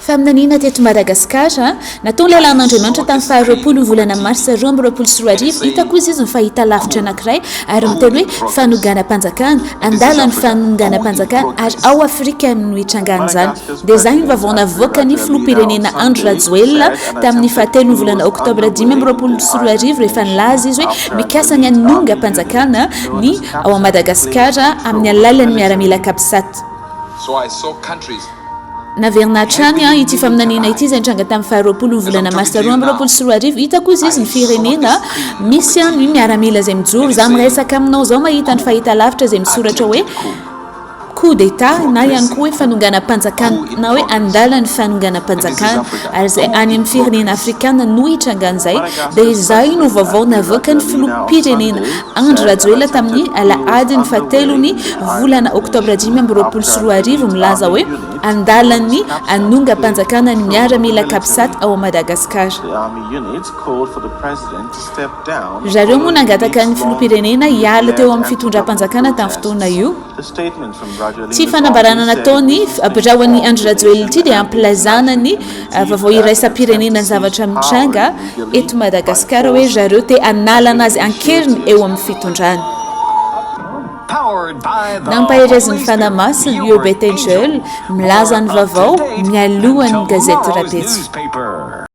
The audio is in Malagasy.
Faminaniana teto Madagasikara, nataon'ny lalàn'Andriamanitra tamin'ny faha roapolo ny volana marsa roa amby roapolo sy roa arivo, hita koa izy izy ny fahitalavitra anankiray ary miteny hoe Fanonganam-panjakana, andalan'ny fanonganam-panjakana ary ao Afrika no nitrangan'izany. Dia izany ny vaovao navoakan'ny filoham-pirenena Andry Rajoelina tamin'ny fahatelo ny volana oktobra dimy amby roapolo sy roa arivo rehefa nilaza izy hoe mikasa ny hanongam-panjakana ny ao Madagasikara amin'ny alalan'ny miaramila Capsat. Naverina hatrany ity faminaniana ity izay nitranga tamin'ny faha roapolo ny volana marsa roa amby roapolo sy roa arivo. Hitako hoy izy ny firenena misy an ny miaramila izay mijoro. Izaho miresaka aminao izao mahita ny fahitalavitra izay misoratra hoe coup d'etat na ihany koa hoe fanonganam-panjakana na hoe andalan'ny fanonganam-panjakana ary izay any amin'ny firenena afrikana no hitrangan'izay dia izay no vaovao navoakan'ny filoham-pirenena. Andry Rajoelina tamin'ny alahadin'ny fahatelon'ny volana oktobra dimy amby roapolo sy roa arivo milaza hoe an-dalan'ny hanongam-panjakana ny miaramila Capsat ao Madagasikara. Ry zareo moa nangataka ny filoham-pirenena hiala teo amin'ny fitondram-panjakana tamin'ny fotoana io. Ity fanambarana nataon'ny birao an'i Andry Rajoelina ity dia ampilazana ny vaovao iraisam-pirenena zavatra mitranga eto Madagasikara hoe zareo te hanalana azy an-keriny eo amin'ny fitondrana. Nampaherezin'ny fanahy masina io Bettenjeunes milaza ny vaovao mialohan'ny gazety rapetra.